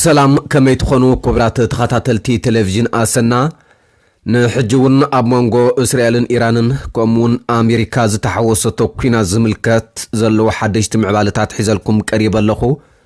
ሰላም ከመይ ትኾኑ ክቡራት ተኸታተልቲ ቴሌቪዥን ኣሰና ንሕጂ እውን ኣብ መንጎ እስራኤልን ኢራንን ከምኡ እውን ኣሜሪካ ዝተሓወሰቶ ኩናት ዝምልከት ዘለዉ ሓደሽቲ ምዕባለታት ሒዘልኩም ቀሪበ ኣለኹ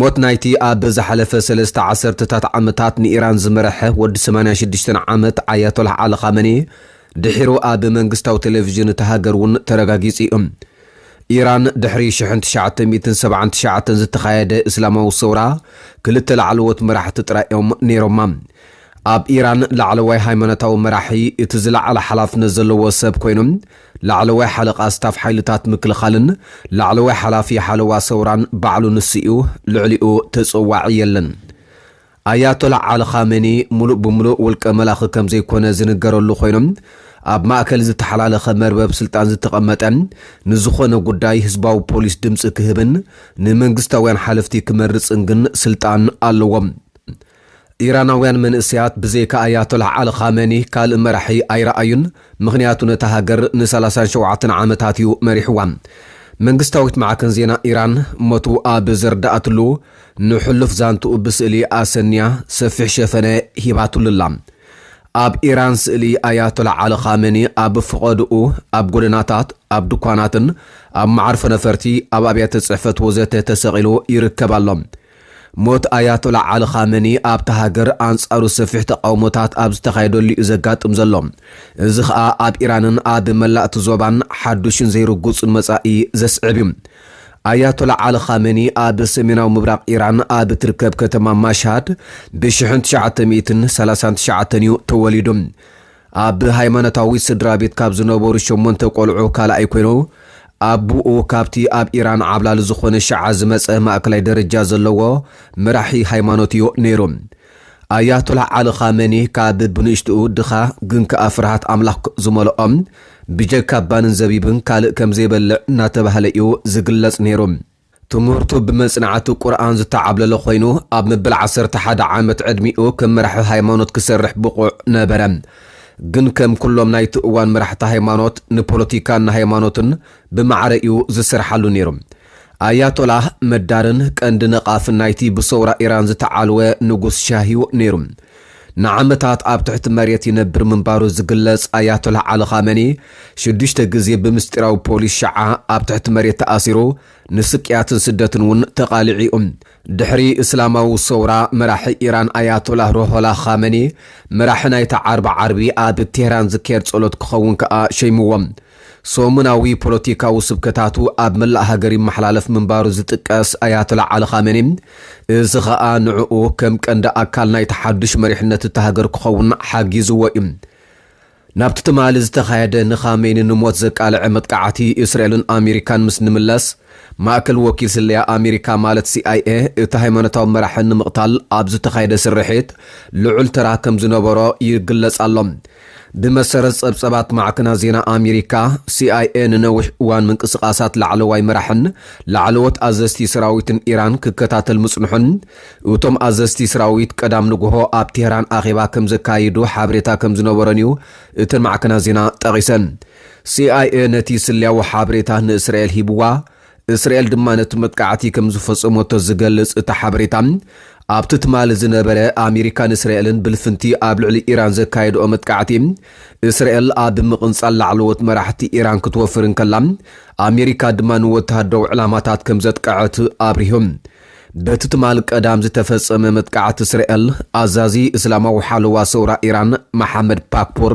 ሞት ናይቲ ኣብ ዝሓለፈ ሰለስተ ዓሰርተታት ዓመታት ንኢራን ዝመረሐ ወዲ ሰማንያ ሽዱሽተ ዓመት ኣያቶላህ ዓሊ ኻመኔ ድሒሩ ኣብ መንግስታዊ ቴሌቪዥን እታ ሃገር እውን ተረጋጊጹ እዩ። ኢራን ድሕሪ ሽሕን ትሽዓተ ሚእትን ሰብዓን ትሽዓተን ዝተኻየደ እስላማዊ ሰውራ ክልተ ላዕለዎት መራሕቲ ጥራይ እዮም ነይሮማ። ኣብ ኢራን ላዕለዋይ ሃይማኖታዊ መራሒ እቲ ዝለዓለ ሓላፍነት ዘለዎ ሰብ ኮይኑ፣ ላዕለዋይ ሓለቓ ስታፍ ሓይልታት ምክልኻልን ላዕለዋይ ሓላፊ ሓለዋ ሰውራን ባዕሉ ንሱ'ዩ፣ ልዕሊኡ ተጸዋዒ የለን። ኣያቶላህ ዓሊ ኻሜኒ ምሉእ ብምሉእ ውልቀ መላኺ ከም ዘይኮነ ዝንገረሉ ኮይኑ፣ ኣብ ማእከል ዝተሓላለኸ መርበብ ስልጣን ዝተቐመጠ፣ ንዝኾነ ጉዳይ ህዝባዊ ፖሊስ ድምጺ ክህብን ንመንግስታውያን ሓለፍቲ ክመርጽን ግን ስልጣን ኣለዎ። ኢራናውያን መንእሰያት ብዘይካ ኣያቶላህ ዓሊ ኻመኒ ካልእ መራሒ ኣይረኣዩን፣ ምኽንያቱ ነታ ሃገር ንሰላሳን ሸውዓተን ዓመታት እዩ መሪሕዋ። መንግስታዊት ማዕከን ዜና ኢራን ሞቱ ኣብ ዘርድኣትሉ ንሕሉፍ ዛንትኡ ብስእሊ ኣሰንያ ሰፊሕ ሸፈነ ሂባትሉ ኣላ። ኣብ ኢራን ስእሊ ኣያቶላህ ዓሊ ኻመኒ ኣብ ፍቖድኡ ኣብ ጎደናታት፣ ኣብ ድኳናትን ኣብ መዓርፎ ነፈርቲ፣ ኣብ ኣብያተ ጽሕፈት ወዘተ ተሰቒሉ ይርከብ ኣሎ። ሞት ኣያቶላ ዓሊ ኻመኒ ኣብታ ሃገር ኣንጻሩ ሰፊሕ ተቓውሞታት ኣብ ዝተኻየደሉ'ዩ ዘጋጥም ዘሎ። እዚ ኸኣ ኣብ ኢራንን ኣብ መላእ'ቲ ዞባን ሓዱሽን ዘይርጉጽን መጻኢ ዘስዕብ'ዩ። ኣያቶላ ዓሊ ኻመኒ ኣብ ሰሜናዊ ምብራቕ ኢራን ኣብ እትርከብ ከተማ ማሽሃድ ብሽሕን ትሽዓተ ሚእትን ሰላሳን ትሽዓተን'ዩ ተወሊዱ። ኣብ ሃይማኖታዊ ስድራቤት ካብ ዝነበሩ ሸሞንተ ቆልዑ ካልኣይ ኮይኑ፣ ኣቡኡ ካብቲ ኣብ ኢራን ዓብላሊ ዝኾነ ሺዓ ዝመጸ ማእከላይ ደረጃ ዘለዎ መራሒ ሃይማኖትዮ ነይሩ። ኣያቶላህ ዓሊ ኻመኒ ካብ ብንእሽትኡ ድኻ ግን ከኣ ፍርሃት ኣምላኽ ዝመልኦ፣ ብጀካ ባንን ዘቢብን ካልእ ከምዘይበልዕ እናተባህለ'ዩ ዝግለጽ ነይሩ። ትምህርቱ ብመጽናዕቲ ቁርኣን ዝተዓብለለ ኮይኑ፣ ኣብ መበል ዓሰርተ ሓደ ዓመት ዕድሚኡ ከም መራሒ ሃይማኖት ክሰርሕ ብቑዕ ነበረ። ግን ከም ኩሎም ናይቲ እዋን መራሕቲ ሃይማኖት፣ ንፖለቲካን ንሃይማኖትን ብማዕረ'ዩ ዝሰርሓሉ ነይሩ። ኣያቶላህ መዳርን ቀንዲ ነቓፍን ናይቲ ብሰውራ ኢራን ዝተዓልወ ንጉስ ሻህ'ዩ ነይሩ። ንዓመታት ኣብ ትሕቲ መሬት ይነብር ምንባሩ ዝግለጽ ኣያቶላህ ዓሊ ኻመኒ፣ ሽዱሽተ ግዜ ብምስጢራዊ ፖሊስ ሽዓ ኣብ ትሕቲ መሬት ተኣሲሩ፣ ንስቅያትን ስደትን እውን ተቓሊዑ'ዩ። ድሕሪ እስላማዊ ሰውራ፣ መራሒ ኢራን ኣያቶላህ ሩሆላህ ኻመኒ፣ መራሒ ናይታ ዓርቢ ዓርቢ ኣብ ቴህራን ዝካየድ ጸሎት ክኸውን ከኣ ሸይሙዎ። ሰሙናዊ ፖለቲካዊ ስብከታቱ ኣብ መላእ ሃገር ይመሓላለፍ ምንባሩ ዝጥቀስ ኣያቶላ ዓሊ ኻሜኒ፣ እዚ ኸኣ ንዕኡ ከም ቀንዲ ኣካል ናይቲ ሓዱሽ መሪሕነት እታ ሃገር ክኸውን ሓጊዝዎ እዩ። ናብቲ ትማሊ ዝተኻየደ ንኻሜኒ ንሞት ዘቃልዐ መጥቃዕቲ እስራኤልን ኣሜሪካን ምስ ንምለስ፣ ማእከል ወኪል ስለያ ኣሜሪካ ማለት ሲኣይኤ እቲ ሃይማኖታዊ መራሒ ንምቕታል ኣብ ዝተኻየደ ስርሒት ልዑል ተራ ከም ዝነበሮ ይግለጽ ኣሎ። ብመሰረት ጸብጸባት ማዕከናት ዜና ኣሜሪካ፣ ሲኣይኤ ንነዊሕ እዋን ምንቅስቓሳት ላዕለዋይ መራሕን ላዕለዎት ኣዘዝቲ ሰራዊትን ኢራን ክከታተል ምጽንሑን እቶም ኣዘዝቲ ሰራዊት ቀዳም ንግሆ ኣብ ቴህራን ኣኼባ ከም ዘካይዱ ሓበሬታ ከም ዝነበሮን'ዩ እተን ማዕከናት ዜና ጠቒሰን። ሲኣይኤ ነቲ ስለያዊ ሓበሬታ ንእስራኤል ሂብዋ፣ እስራኤል ድማ ነቲ መጥቃዕቲ ከም ዝፈጸመቶ ዝገልጽ እቲ ሓበሬታ፣ ኣብቲ ትማሊ ዝነበረ ኣሜሪካን እስራኤልን ብልፍንቲ ኣብ ልዕሊ ኢራን ዘካየድኦ መጥቃዕቲ፣ እስራኤል ኣብ ምቕንጻል ላዕለዎት መራሕቲ ኢራን ክትወፍር እንከላ፣ ኣሜሪካ ድማ ንወተሃደራዊ ዕላማታት ከም ዘጥቀዐት ኣብሪሁ። በቲ ትማል ቀዳም ዝተፈጸመ መጥቃዕቲ እስራኤል፣ ኣዛዚ እስላማዊ ሓለዋ ሰውራ ኢራን መሓመድ ፓክፖር፣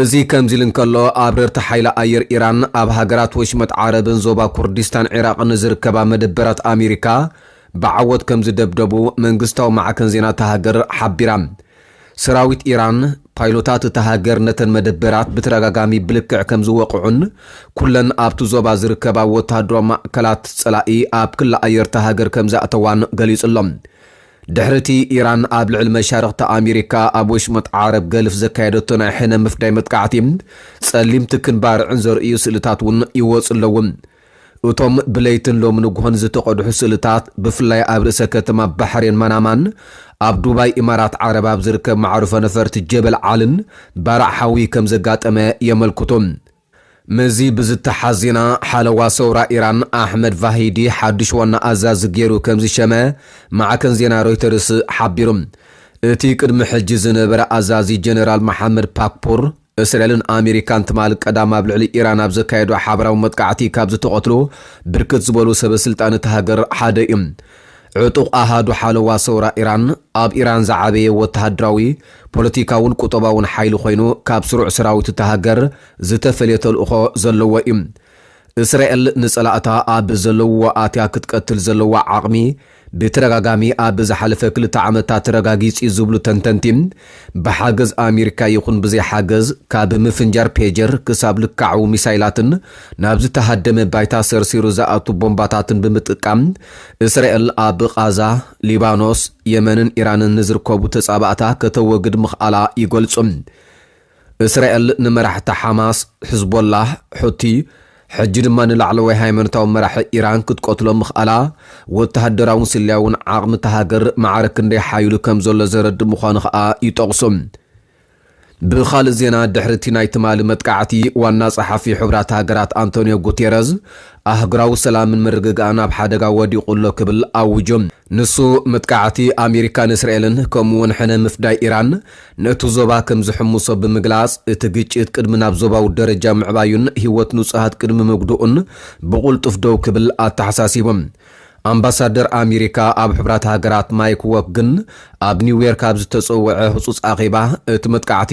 እዚ ከምዚ'ሉ እንከሎ፣ ኣብረርቲ ሓይሊ ኣየር ኢራን ኣብ ሃገራት ወሽመጥ ዓረብን ዞባ ኩርዲስታን ዒራቕን ዝርከባ መደበራት ኣሜሪካ ብዓወት ከምዝደብደቡ መንግስታዊ ማዕከን ዜና እታ ሃገር ሓቢራ። ሰራዊት ኢራን፣ ፓይሎታት እታ ሃገር ነተን መደበራት ብተደጋጋሚ ብልክዕ ከምዝወቕዑን ኩለን ኣብቲ ዞባ ዝርከባ ወተሃደራዊ ማእከላት ጸላኢ ኣብ ክሊ ኣየር እታ ሃገር ከምዝኣተዋን ገሊጹ'ሎ። ድሕሪ'ቲ ኢራን ኣብ ልዕሊ መሻርኽቲ ኣሜሪካ ኣብ ወሽመጥ ዓረብ ገልፍ ዘካየደቶ ናይ ሕነ ምፍዳይ መጥቃዕቲ፣ ጸሊም ትክን ባርዕን ዘርእዩ ስእልታት'ውን ይወጹ ኣለዉ። እቶም ብለይትን ሎሚ ንግሆን ዝተቐድሑ ስእልታት፣ ብፍላይ ኣብ ርእሰ ከተማ ባሕሬን ማናማን ኣብ ዱባይ ኢማራት ዓረብ ኣብ ዝርከብ መዓርፎ ነፈርቲ ጀበል ዓልን ባርዕ ሓዊ ከምዘጋጠመ የመልክቱ። ምስዚ ብዝተሓዝ ዜና ሓለዋ ሰውራ ኢራን ኣሕመድ ቫሂዲ ሓዱሽ ዋና ኣዛዚ ገይሩ ከምዝሸመ ማዕከን ዜና ሮይተርስ ሓቢሩ። እቲ ቅድሚ ሕጂ ዝነበረ ኣዛዚ ጀነራል መሓመድ ፓክፑር፣ እስራኤልን ኣሜሪካን ትማል ቀዳም ኣብ ልዕሊ ኢራን ኣብ ዘካየድኦ ሓበራዊ መጥቃዕቲ ካብ ዝተቐትሉ ብርክት ዝበሉ ሰበስልጣን እታ ሃገር ሓደ እዩ። ዕጡቕ ኣሃዱ ሓለዋ ሰውራ ኢራን፣ ኣብ ኢራን ዝዓበየ ወተሃደራዊ፣ ፖለቲካውን ቁጠባውን ሓይሊ ኮይኑ፣ ካብ ስሩዕ ሰራዊት እታ ሃገር ዝተፈልየ ተልእኾ ዘለዎ እዩ። እስራኤል ንጸላእታ ኣብ ዘለውዎ ኣትያ ክትቀትል ዘለዋ ዓቕሚ ብተደጋጋሚ ኣብ ዝሓለፈ ክልተ ዓመታት ተረጋጊጹ'ዩ ዝብሉ ተንተንቲ፣ ብሓገዝ ኣሚሪካ ይኹን ብዘይ ሓገዝ ካብ ምፍንጃር ፔጀር ክሳብ ልካዕዊ ሚሳይላትን ናብ ዝተሃደመ ባይታ ሰርሲሩ ዝኣቱ ቦምባታትን ብምጥቃም እስራኤል ኣብ ቓዛ፣ ሊባኖስ፣ የመንን ኢራንን ንዝርከቡ ተጻባእታ ከተወግድ ምኽኣላ ይገልጹ። እስራኤል ንመራሕቲ ሓማስ፣ ሕዝቦላህ፣ ሑቲ፣ ሕጂ ድማ ንላዕለዋይ ሃይማኖታዊ መራሒ ኢራን ክትቀትሎ ምኽኣላ፣ ወተሃደራውን ስለያውን ዓቕሚ እታ ሃገር ማዕረ ክንደይ ሓዪሉ ከም ዘሎ ዘረድእ ምዃኑ ከኣ ይጠቕሱ። ብኻልእ ዜና፣ ድሕሪ እቲ ናይ ትማሊ መጥቃዕቲ፣ ዋና ጸሓፊ ሕቡራት ሃገራት ኣንቶንዮ ጉቴረዝ፣ ኣህጉራዊ ሰላምን ምርግጋእን ኣብ ሓደጋ ወዲቑ ኣሎ ክብል ኣዊጁ። ንሱ፣ መጥቃዕቲ ኣሜሪካን እስራኤልን ከምኡ'ውን ሕነ ምፍዳይ ኢራን፣ ነቲ ዞባ ከም ዝሕምሶ ብምግላጽ፣ እቲ ግጭት ቅድሚ ናብ ዞባዊ ደረጃ ምዕባዩን ህይወት ንጹሃት ቅድሚ ምጉድኡን ብቕልጡፍ ደው ክብል ኣተሓሳሲቦም። ኣምባሳደር ኣሜሪካ ኣብ ሕቡራት ሃገራት ማይክ ዎክ ግን ኣብ ኒውዮርክ ኣብ ዝተጸውዐ ህጹጽ ኣኼባ እቲ መጥቃዕቲ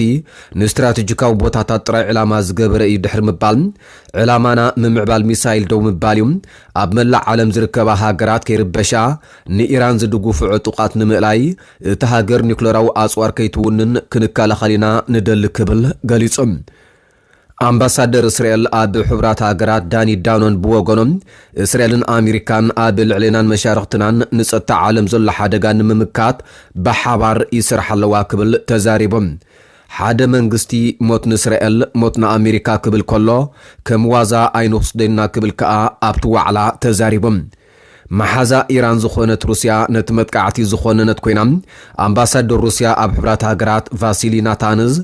ንስትራተጂካዊ ቦታታት ጥራይ ዕላማ ዝገበረ እዩ ድሕሪ ምባል ዕላማና ምምዕባል ሚሳይል ደው ምባል እዩ ኣብ መላእ ዓለም ዝርከባ ሃገራት ከይርበሻ ንኢራን ዝድጉፉ ዕጡቓት ንምእላይ እታ ሃገር ኒዩክለራዊ ኣጽዋር ከይትውንን ክንከላኸል ኢና ንደሊ ክብል ገሊጹ። ኣምባሳደር እስራኤል ኣብ ሕቡራት ሃገራት ዳኒ ዳኖን ብወገኖም፣ እስራኤልን ኣሜሪካን ኣብ ልዕሌናን መሻርኽትናን ንጸጥታ ዓለም ዘሎ ሓደጋ ንምምካት ብሓባር ይሰርሓ ኣለዋ ክብል ተዛሪቦም። ሓደ መንግስቲ ሞት ንእስራኤል ሞት ንኣሜሪካ ክብል ከሎ ከም ዋዛ ኣይንውስዶ'ኢና ክብል ከኣ ኣብቲ ዋዕላ ተዛሪቦም። መሓዛ ኢራን ዝኾነት ሩስያ ነቲ መጥቃዕቲ ዝኾነነት ኮይና፣ ኣምባሳደር ሩስያ ኣብ ሕቡራት ሃገራት ቫሲሊ ናታንዝ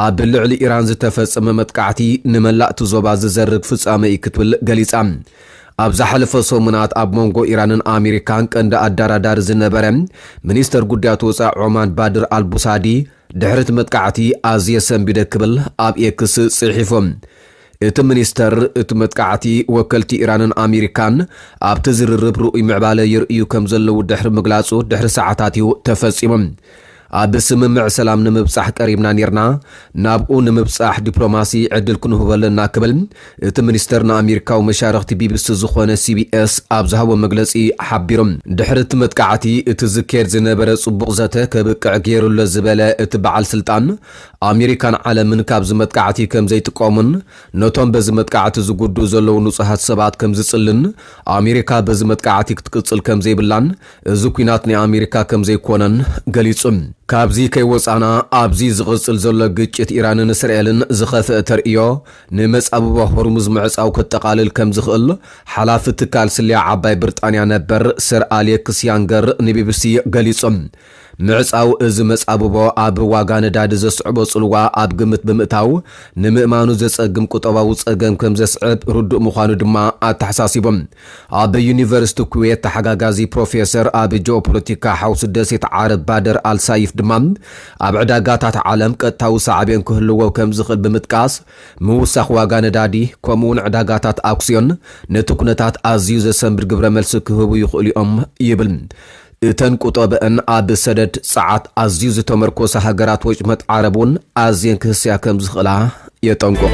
ኣብ ልዕሊ ኢራን ዝተፈጸመ መጥቃዕቲ ንመላእ'ቲ ዞባ ዝዘርግ ፍጻመ እዩ ክትብል ገሊጻ። ኣብ ዝሓለፈ ሰሙናት ኣብ መንጎ ኢራንን ኣሜሪካን ቀንዲ ኣዳራዳሪ ዝነበረ ሚኒስተር ጉዳያት ወጻኢ ዖማን ባድር ኣልቡሳዲ፣ ድሕሪ እቲ መጥቃዕቲ ኣዝየ ሰንቢደ ክብል ኣብ ኤክስ ጽሒፉ። እቲ ሚኒስተር፣ እቲ መጥቃዕቲ ወከልቲ ኢራንን ኣሜሪካን ኣብቲ ዝርርብ ርኡይ ምዕባለ የርእዩ ከምዘለዉ ድሕሪ ምግላጹ ድሕሪ ሰዓታት'ዩ ተፈጺሙ። ኣብ ስምምዕ ሰላም ንምብጻሕ ቀሪብና ኔርና፣ ናብኡ ንምብጻሕ ዲፕሎማሲ ዕድል ክንህቦ ኣለና ክብል እቲ ሚኒስተር ንኣሜሪካዊ መሻርኽቲ ቢቢሲ ዝኾነ ሲቢኤስ ኣብ ዝሃቦ መግለጺ ሓቢሩ። ድሕሪ እቲ መጥቃዕቲ፣ እቲ ዝካየድ ዝነበረ ጽቡቕ ዘተ ከብቅዕ ገይሩ'ሎ ዝበለ እቲ በዓል ስልጣን፣ ኣሜሪካን ዓለምን ካብዚ መጥቃዕቲ ከም ዘይጥቀሙን ነቶም በዚ መጥቃዕቲ ዝጉድኡ ዘለዉ ንጹሃት ሰባት ከም ዝጽልን ኣሜሪካ በዚ መጥቃዕቲ ክትቅጽል ከም ዘይብላን እዚ ኲናት ናይ ኣሜሪካ ከም ዘይኮነን ገሊጹ። ካብዚ ከይወጻእና ኣብዚ ዝቕጽል ዘሎ ግጭት ኢራንን እስራኤልን ዝኸፍአ ተርእዮ ንመጻብቦ ሆርሙዝ ምዕጻው ከጠቓልል ከም ዝኽእል ሓላፊ ትካል ስለያ ዓባይ ብርጣንያ ነበር ሰር ኣሌክስ ያንገር ንቢቢሲ ገሊጾም። ምዕጻው እዚ መጻብቦ ኣብ ዋጋ ነዳዲ ዘስዕቦ ጽልዋ ኣብ ግምት ብምእታው ንምእማኑ ዘጸግም ቁጠባዊ ጸገም ከም ዘስዕብ ርዱእ ምዃኑ ድማ ኣተሓሳሲቦም። ኣብ ዩኒቨርሲቲ ኩዌት ተሓጋጋዚ ፕሮፌሰር፣ ኣብ ጂኦፖለቲካ ሓውሲ ደሴት ዓረብ ባደር ኣልሳይፍ ድማ ኣብ ዕዳጋታት ዓለም ቀጥታዊ ሳዕቤን ክህልዎ ከምዝኽእል ብምጥቃስ፣ ምውሳኽ ዋጋ ነዳዲ ከምኡ'ውን ዕዳጋታት ኣክስዮን ነቲ ኩነታት ኣዝዩ ዘሰንብድ ግብረመልሲ ክህቡ ይኽእሉ'ዮም ይብል። እተን ቁጠበኣን ኣብ ሰደድ ጸዓት ኣዝዩ ዝተመርኮሳ ሃገራት ወጭመጥ ዓረብ እውን ኣዝየን ክህሰያ ከም ዝኽእላ የጠንቅቑ።